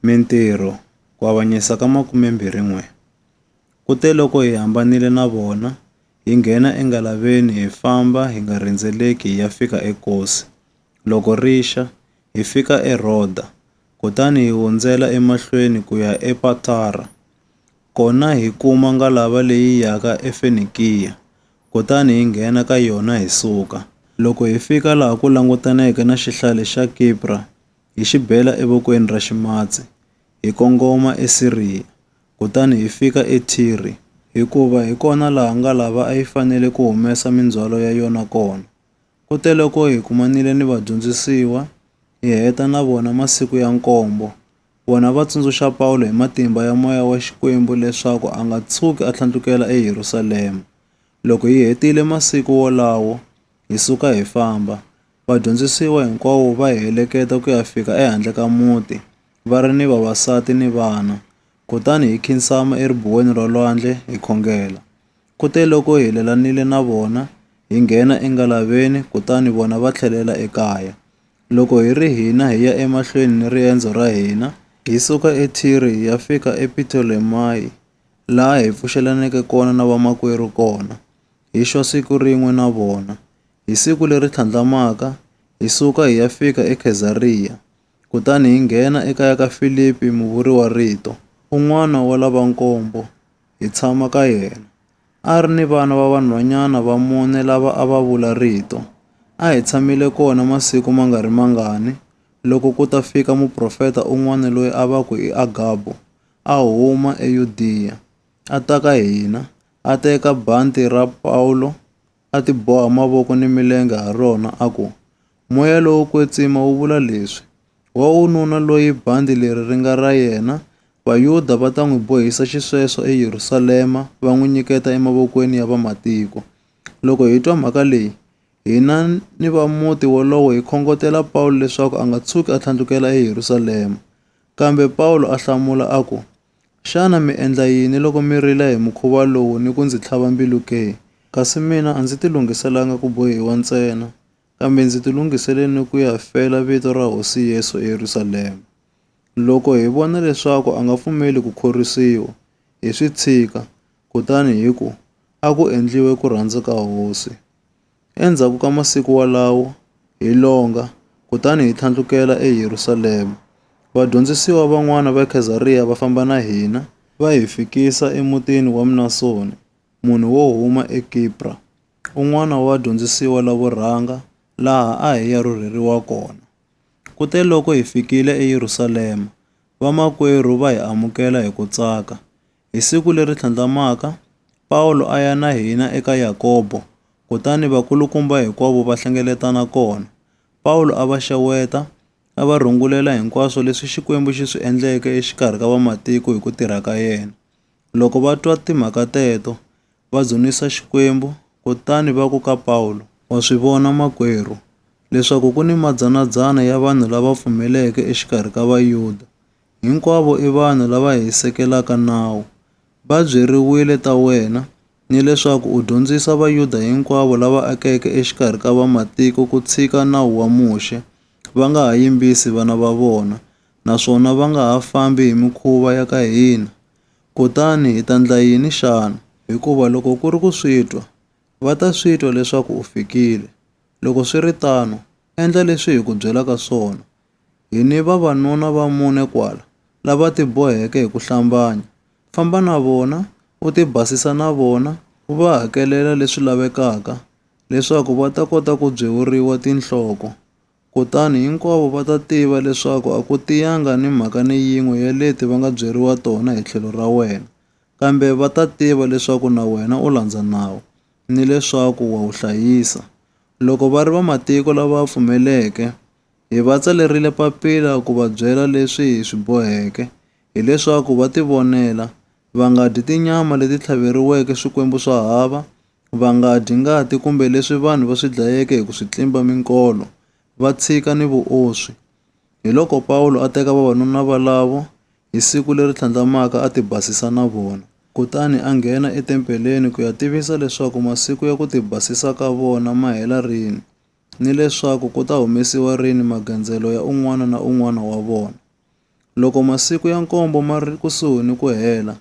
Mintirho, Ku avanyisa ka 21 Kuteloko hi hambanile na vona, hi nghena engalaveni hi famba hi nga rhendzeleki hi ya fika eKosi. Loko ri xa, hi fika eRhoda, kutani hi hundzela emahlweni ku ya ePatara. Kona hi kuma ngalava leyi yaka eFenikiya, kutani hi nghena ka yona hi suka. Loko hi fika laha ku langutaneke na xihlale xa Kipra, hi xi bela evokweni ra ximatsi, hi kongoma eSiriya, kutani hi fika eThire, hikuva hi kona laha ngalava a yi fanele ku humesa mindzhwalo ya yona kona. Kuteloko hi kumanile ni vadyondzisiwa, hi heta na vona masiku ya nkombo, vona va tsundzuxa Pawulo hi matimba ya moya wa Xikwembu leswaku a nga tshuki a tlhandlukela eYerusalema. Loko hi hetile masiku wolawo, hi suka hi famba. Vadyondzisiwa hinkwavo va hi heleketa ku ya fika ehandle ka muti, va ri ni vavasati ni vana. Kutani hi khinsama eribuweni ra lwandle hi khongela. Kuteloko hi helelanile na vona, hi nghena engalaveni kutani vona va tlhelela ekaya. Loko hi ri hina hi ya emahlweni ni riendzo ra hina, hi suka eThire hi ya fika ePitolemayi, laha hi pfuxelaneke kona na vamakwerhu kona, hi xwa siku rin'we na vona. Hi siku leri tlhandlamaka, hi suka hi ya fika eKhezariya, kutani hi nghena ekaya ka Filipi muvuriwa-rito, un'wana wa lava nkombo, hi tshama ka yena. A ri ni vana va vanhwanyana va mune lava a va vula Rito. A hi tshamile kona masiku ma nga ri mangani, loko ku ta fika muprofeta un'wana loyi a va ku i Agabo, a huma eYudiya, a ta ka hina, a teka bandhi ra Pawulo, a tiboha mavoko ni milenge ha rona, a ku, Moya lowo kwetsima wu vula leswi, Wa wununa loyi bandhi leri ri nga ra yena, Vayuda va ta n'wi bohisa xisweswo eYerusalema, va n'wi nyiketa emavokweni ya vamatiko. Loko hi twa mhaka leyi, hina ni va muti wolowo hi khongotela Pawulo leswaku a nga tshuki a tlhandlukela eYerusalema. Kambe Pawulo a hlamula a ku, Xana mi endla yini loko mi rila hi mukhuva lowu ni ku ndzi tlhava mbilu ke? Kasi mina a ndzi tilunghiselanga ku bohiwa ntsena, kambe ndzi tilunghisele ni ku ya fela vito ra Hosi Yesu eYerusalema. Loko hi vona leswaku a nga pfumeli ku khorwisiwa, hi swi tshika, kutani hi ku, A ku endliwe ku rhandza ka Hosi. Endzhaku ka masiku walawo, hi longa, kutani hi tlhandlukela eYerusalema. Vadyondzisiwa van'wana va Khezariya va famba na hina, va hi fikisa emutini wa Mnasoni, munhu wo huma eKipra, un'wana wa vadyondzisiwa lavo rhanga, laha a hi ya rhurheriwa kona. Kuteloko hi fikile eYerusalema, vamakwerhu va hi amukela hi ku tsaka. Hi siku leri tlhandlamaka, Pawulo a ya na hina eka Yakobo, kutani vakulukumba hinkwavo va hlengeletana kona. Pawulo a va xeweta, a va rungulela hinkwaswo leswi Xikwembu xi swi endleke exikarhi ka vamatiko hi ku tirha ka yena. Loko va twa timhaka teto, va dzunisa Xikwembu, kutani va ku ka Pawulo, Wa swi vona makwerhu, leswaku ku ni madzana-dzana ya vanhu lava pfumeleke exikarhi ka Vayuda, hinkwavo i vanhu lava hisekelaka nawu. Va byeriwile ta wena, ni leswaku u dyondzisa Vayuda hinkwavo lava akeke exikarhi ka Vamatiko ku tshika nawu wa Muxe, va nga ha yimbisi vana va vona, naswona va nga ha fambi hi mikhuva ya ka hina. Kutani hi ta ndla yini xana? Hikuva loko ku ri ku swi twa, va ta swi twa leswaku u fikile. Loko swi ri tano, endla leswi hi ku byelaka swona, Hi ni vavanuna va mune kwala lava tiboheke hi ku hlambanya. Famba na vona, u tibasisa na vona, u va hakelela leswi lavekaka leswaku va ta kota ku byewuriwa tinhloko. Kutani hinkwavo va ta tiva leswaku a ku tiyanga ni mhaka ni yin'we ya leti va nga byeriwa tona hi tlhelo ra wena, kambe va ta tiva leswaku na wena u landza nawu ni leswaku wa wu hlayisa. Loko va ri vamatiko lava pfumeleke, Hi va tsalerile papila ku va byela leswi hi swi boheke, hileswaku va tivonela, va nga dyi tinyama leti tlhaveriweke swikwembu swa hava, va nga dyi ngati kumbe leswi vanhu va swi dlayeke hi ku swi tlimba minkolo, va tshika ni vuoswi. Hiloko Pawulo a teka vavanuna valavo hi siku leri tlhandlamaka a tibasisa na vona. Kutani a nghena etempeleni ku ya tivisa leswaku masiku ya ku tibasisa ka vona ma hela rini. ni leswaku ku ta humesiwa rini magandzelo ya un'wana na un'wana wa vona. Loko masiku ya nkombo ma ri kusuhi ni ku hela,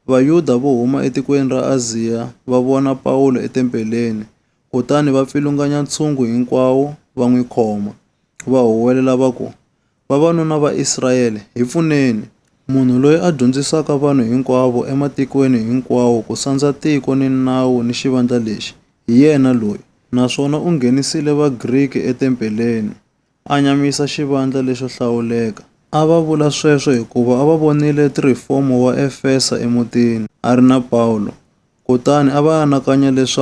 Vayuda vo huma etikweni ra Aziya va vona Pawulo etempeleni kutani va pfilunganya ntshungu hinkwawo va n'wi khoma, va huwelela va ku, Vavanuna va Israyele, hi pfuneni! Munhu loyi a dyondzisaka vanhu hinkwavo ematikweni hinkwawo ku sandza tiko ni nawu ni xivandla lexi, hi yena loyi. Naswona u nghenisile Vagriki etempeleni, a nyamisa xivandla lexo hlawuleka. A va vula sweswo hikuva a va vonile Trifomo wa Efesa emutini, a ri na Pawulo. Kutani a va anakanya leswaku.